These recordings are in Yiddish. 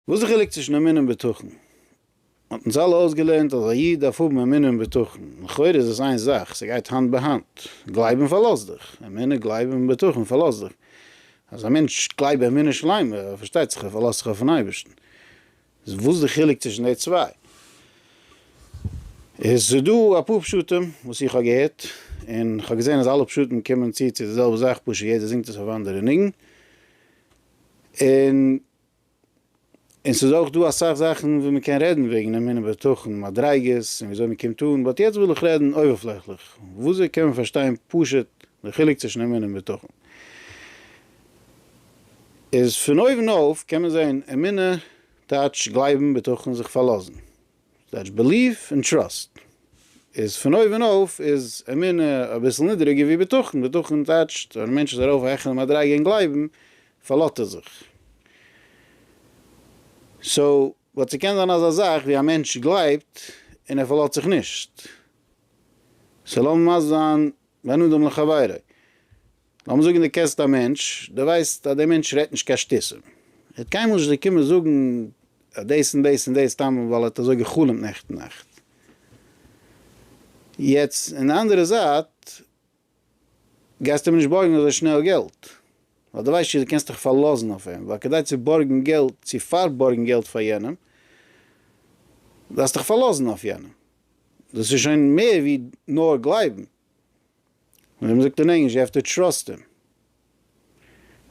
וואס איז די חילוק צווישן אמונה און בטחון? מ'האט אונז אלע אויסגעלערנט אז א איד דארף האבן אמונה און בטחון, לכאורה איז עס איין זאך, ס'גייט האנט ביי האנט, גלייב און פארלאז דיך, אמונה גלייב און בטחון פארלאז דיך, אז א מענטש גלייב באמונה שלימה, פארשטייט זיך ער פארלאזט זיך אויפן אייבערשטן, איז וואס די חילוק צווישן די צוויי? איז ס'דא אפאר פשטים וואס איך האב געהערט, און כ'האב געזען אז אלע פשטים קומען צו צו די זעלבע זאך, פשוט יעדער זינגט עס אויף א אנדערע ניגון, און און ס'איז אויך דא אסאך זאכן וואו מ'קען רעדן וועגן אמונה בטחון, מדריגות, און וויאזוי מ'קומט אן, באט יעצט וויל איך רעדן אויבערפלעכליך, וויאזוי קען מען פארשטיין פשוט די חילוק צווישן אמונה און בטחון. איז פון אויבן אויף קען מען זען אמונה טייטש גלייבן, בטחון זיך פארלאזן, זייטס בעליוו און טראסט איז פון אויבן אויף איז אמונה אביסל נידריגער ווי בטחון, בטחון טייטשט ווען א מענטש איז ארויף א העכערע מדריגה אין גלייבן פארלאט ער זיך. סאו באט ס'קען זיין אזא זאך ווי א מענטש גלייבט און ער פארלאט זיך נישט. סאו לאמיר מסביר זיין בין אדם לחבירו. לאמיר זאגן דו קענסט א מענטש, דו ווייסט אז דער מענטש רעדט נישט קיין שטותים. ער וועט קיינמאל נישט דיר קומען זאגן אז דאס און דאס און דאס סתם ווייל ער האט אזוי גע'חלומ'ט נעכטן נאכט. יעצט אין די אנדערע זייט גייסטו אים נישט בארגן אזוי שנעל געלט. ווייל דו ווייסט נישט צו דו קענסט דיך פארלאזן אויף אים. ווייל כדי צו בארגן געלט, צו פארבארגן געלט פאר יענעם, דארפסטו דיך פארלאזן אויף יענעם. דאס איז שוין מער ווי נאר גלייבן, ווי מען זאגט אין ענגליש יו העוו טו טראסט הים.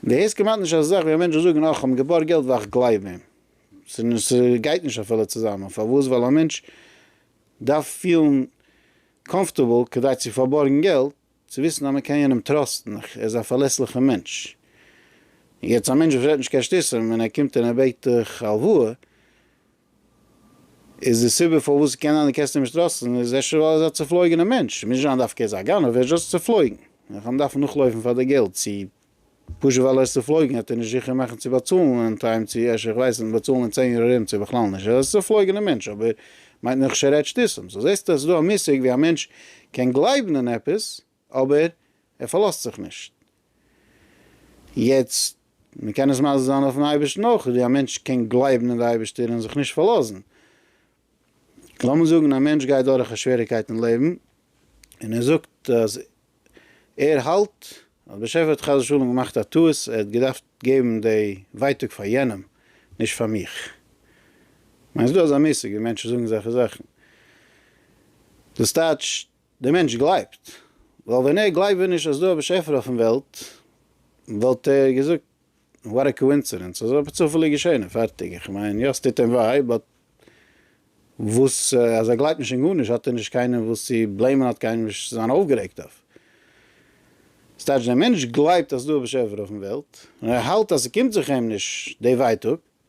און דו הערסט כמעט נישט אזא זאך ווי א מענטש זאל זאגן אה כ'האב אים געבארגט געלט ווייל איך גלייב אים. ס'גייט נישט אפילו צוזאמען, פארוואס? ווייל א מענטש דארף פילן קאמפארטעבל כדי צו פארבארגן געלט, צו וויסן אז מען קען יענעם טראסטן, ער איז א פארלעסליכער מענטש. יעצט א מענטש וואס רעדט נישט קיין שטותים און ער קומט און ער בעט דיך הלוואה, איז די סיבה פארוואס קען זיין די קענסט אים נישט טראסטן איז אפשר ווייל ער איז א צופלויגענע מענטש, מוז נישט זיין דווקא ער איז א גנב, ער איז דשאסט צופלויגן, ער קען דארפן נאכלויפן פאר די געלט, צו פשוט ווייל ער איז צופלויגן וועט ער נישט זיכער מאכן צו באצאלן אין טיים צו אפשר איך ווייס נישט באצאלן אין צען יאר ארום צו בכלל נישט, ער איז א צופלויגענע מענטש אבער מיינט נאכנישט ער רעדט שטותים, סאו זעסטו אז ס'איז דא א מושג ווי א מענטש קען גלייבן אין עפעס, אבער ער פארלאזט זיך נישט. יעצט, מען קען עס מזיז זיין אויפ'ן אייבערשטן אויך, ווי א מענטש קען גלייבן אין די אייבערשטער און זיך נישט פארלאזן. לאמיר זאגן א מענטש גייט דורך א שוועריגקייט אין לעבן, און ער זאגט אז ער האלט אז באשעפער האט חס ושלום געמאכט א טעות, ער האט געדארפט געבן די ווייטאג פאר יענעם, נישט פאר מיך. כ'מיין ס'איז דא אזא מושג ווי מענטשן זאגן אזעלכע זאכן. דאס טייטשט דער מענטש גלייבט, ווייל ווען ער גלייבט ווען נישט אז דא א באשעפער אויפן וועלט, וואלט ער געזאגט וואט א קאואינסידענס, אזוי האט צופעליג געשען און פארטיג, איך מיין יא ס'טוט אים וויי, באט וואס אז ער גלייבט נישט אין גארנישט האט ער נישט קיינעם וואס צו בלעימען האט קיינעם נישט צו זיין אויפגערעגט אויף, ס'טייטש דער מענטש גלייבט אז ס'דא א באשעפער אויפן וועלט און ער האלט אז ס'קומט זיך אים נישט די ווייטאג,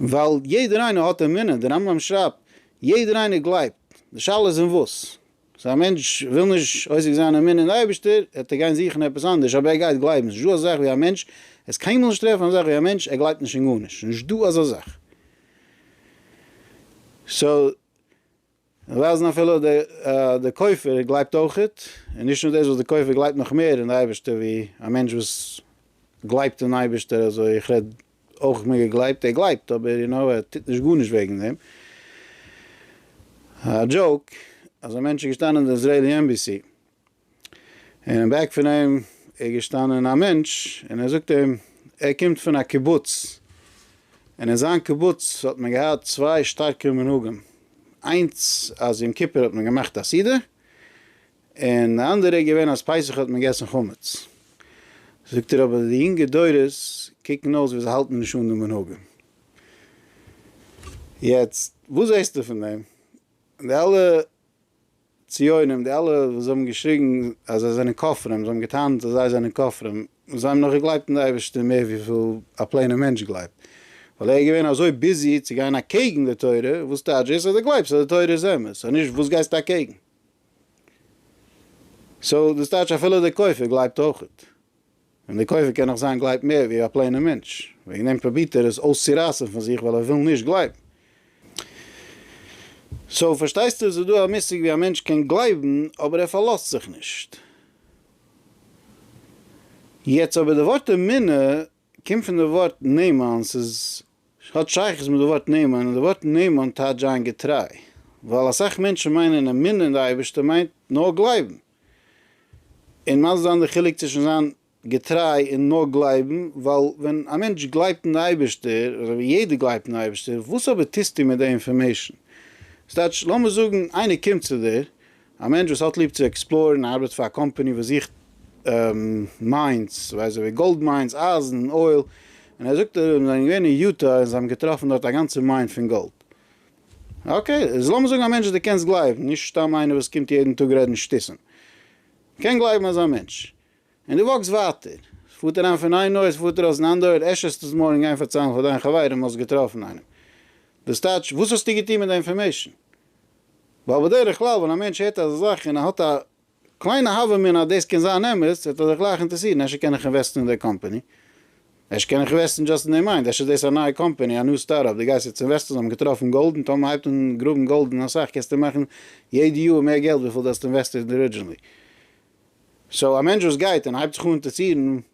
ווייל יעדער איינער האט אמונה, דער רמב ם שרייבט, יעדער איינער גלייבט, די שאלה איז אין וואס. סאו א מענטש וויל נישט עוסק זיין אמונה אין די אייבערשטער, וועט ער גיין זוכן עפעס אנדערש, אבער ער גייט גלייבן, ס'נישט דא אזא זאך ווי א מענטש, עסט קיינמאל נישט טרעפן אזא זאך ווי א מענטש ער גלייבט נישט אין גארנישט, ס'נישט דא אזא זאך. סאו. און ווייזן אפילו די כופר גלייבט אויך, און נישט נאר דאס וואס די כופר גלייבט נאך מער אין די אייבערשטער ווי א מענטש וואס גלייבט אין אייבערשטער אזוי איך רעד אויך מיט געגלייבט ער גלייבט אבער יו נאו ער טוט נישט גארנישט וועגן דעם א דזשאוק אזא מענטש איז געשטאנען אין די איזרעלי עמבעסי. און אין בעק פון אים איז געשטאנען א מענטש און ער זאגט אים ער קומט פון א קיבוץ און אין זיין קיבוץ האט מען געהאט צוויי שטארקע מנהגים איינס אז יום כיפור האט מען געמאכט א סעודה און די אנדערע איז געווען אז פסח האט מען געגעסן חמץ זאגט ער אבער די יונגע דורות קוקן אויס ווי זיי האלטן נישט אן די מנהגים יעצט וואס זעסטו פון דעם די אלע. ציונים, די אלע וואס האבן געשריגן אז זיי זענען כופרים, זיי האבן געטענה'ט אז זיי זענען כופרים, זיי האבן נאך געגלייבט אין די אייבערשטער מער וויפיל א פלעינע מענטש גלייבט, ווייל ער איז געווען אזוי ביזי צו גיין אקעגן די תורה, וואס טייטש דאס אז דו גלייבסט אז די תורה איז אמת, סאו נישט וואס גייסטו אקעגן? סאו דאס טייטש אפילו דער כופר גלייבט אויך, און דער כופר קען נאך זיין גלייבט מער ווי א פלעינער מענטש, וועגן דעם פרובירט ער עס אויסצורייסן פון זיך ווייל ער וויל נישט גלייבן. סאו פארשטייסטו עס איז דא א מושג ווי א מענטש קען גלייבן אבער ער פארלאזט זיך נישט. יעצט אבער די ווארט אמונה קומט פון די ווארט נאמן ס'איז האט שייכות מיט די ווארט נאמן און די ווארט נאמן טייטש זיין געטריי ווייל אסאך מענטשן מיינען אמונה אין די אייבערשטער מיינט נאר גלייבן. און מסביר זיין די חילוק צווישן זיין געטריי און נאר גלייבן, ווייל ווען א מענטש גלייבט אין די אייבערשטער, אזוי ווי יעדער גלייבט אין די אייבערשטער, וואס אבער טוסטו מיט די אינפארמעישן? ס'טייטש, לאמיר זאגן איינער קומט צו דיר, א מענטש וואס האט ליב צו עקספלארן, ארבעט פאר א קאמפאני וואס זוכט מיינס, ווייסט אזוי ווי גאלד מיינס, אייזן, אויל, און ער זאגט אז זיי זענען געווען אין יוטא און זיי האבן געטראפן דארט א גאנצע מיין פון גאלד. אקעי, איז לאמיר זאגן א מענטש דו קענסט גלייבן, נישט סתם איינער וואס קומט יעדן טאג רעדן שטותים. מ'קען גלייבן אזא מענטש. און דו וואקסט ווייטער. ס'פארט אריין פון איין אויער, ס'פארט ארויס אין אנדער אויער, עש'ס עס מארגן גיין פארציילן פאר דיין חברים האסט געטראפן איינעם. דאס טייטש, וואס האסטו געטון מיט די אינפארמעישן? ווייל בדרך כלל ווען א מענטש הערט אזא זאך און ער האט א. קליינע הוה אמינא אז דאס קען זיין אמת, וועט ער זיך גלייך אינטערסירן, אפשר קען איך אינוועסטן אין דער קאמפאני? אפשר קען איך אינוועסטן דשאסט אין דער מיינד, אפשר איז דאס א נייע קאמפאני, א ניו סטארט-אפ, דו גייסט יעצט אינוועסטן, זיי האבן געטראפן גאלד, און טאמער מען הייבט אן גראבן גאלד און אסאך, קענסטו מאכן יעדע יאר מער געלט וויפיל דו האסט אינוועסטעד ארידזשינלי. סאו א מענטש וואס גייט און הייבט זיך אן אינטערסירן,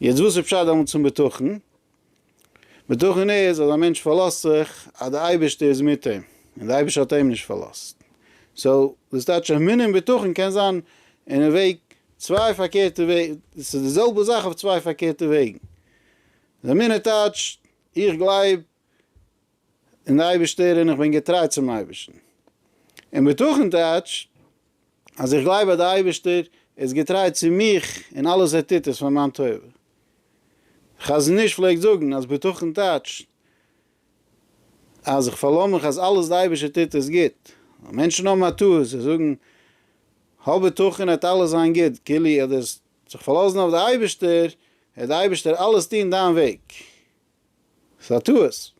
יעצט וואס איז פשט דעמאלטס פון בטחון? בטחון איז אז א מענטש פארלאזט זיך אז די אייבערשטער איז מיט אים, און די אייבערשטער האט אים נישט פארלאזט. סאו דאס טייטש אמונה און בטחון קען זיין אין א וועג צוויי פארקערטע וועג, ס'איז די זעלבע זאך אויף צוויי פארקערטע וועגן. אמונה טייטשט איך גלייב און די אייבערשטער און איך בין געטריי צום אייבערשטן. און בטחון טייטש אז איך גלייב אז די אייבערשטער איז געטריי צו מיך און אלעס ער טוט איז פאר מיין טובה. חזון איש פלעגט זאגן אז בטחון טייטש אז איך פארלאז מיך אז אלעס די אייבערשטער טוט איז גוט. ווייל מענטשן האבן א טעות זיי זאגן האב בטחון עט אלעס זיין גוט כאילו עט זיך פארלאזן אויף די אייבערשטער עט די אייבערשטער אלעס טון דיין וועג. ס'איז א טעות.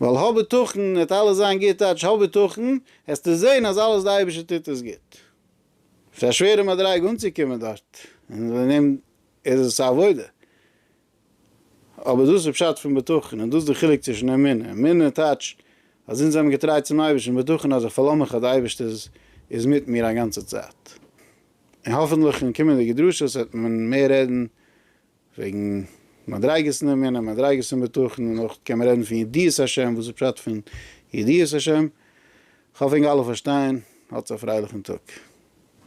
ווייל האב בטחון וועט אלעס זיין גוט טייטש האב בטחון, העסטו זען אז אלעס די אייבערשטער טוט עס גוט. ס'איז א שווערע מדריגה אנצוקומען דארט, און אין דעם איז עס א עבודה. אבער דאס איז פשט פון בטחון, און דאס איז די חילוק צווישן אמונה. אמונה טייטש אז אונז זעמיר געטריי צום אייבערשטן, און בטחון אז איך פארלאז מיך אז די אייבערשטער איז מיט מיר א גאנצע צייט. און האפענטליך אין קומענדיגע דרשות וועט מען מער רעדן וועגן מדריגות אין אמונה, מדריגות אין בטחון, און אויך קען מען רעדן פון ידיעת השם, וואס איז פשט פון ידיעת השם? כ'האף ענק אלע פארשטייען, האטס א פרייליכן טאג.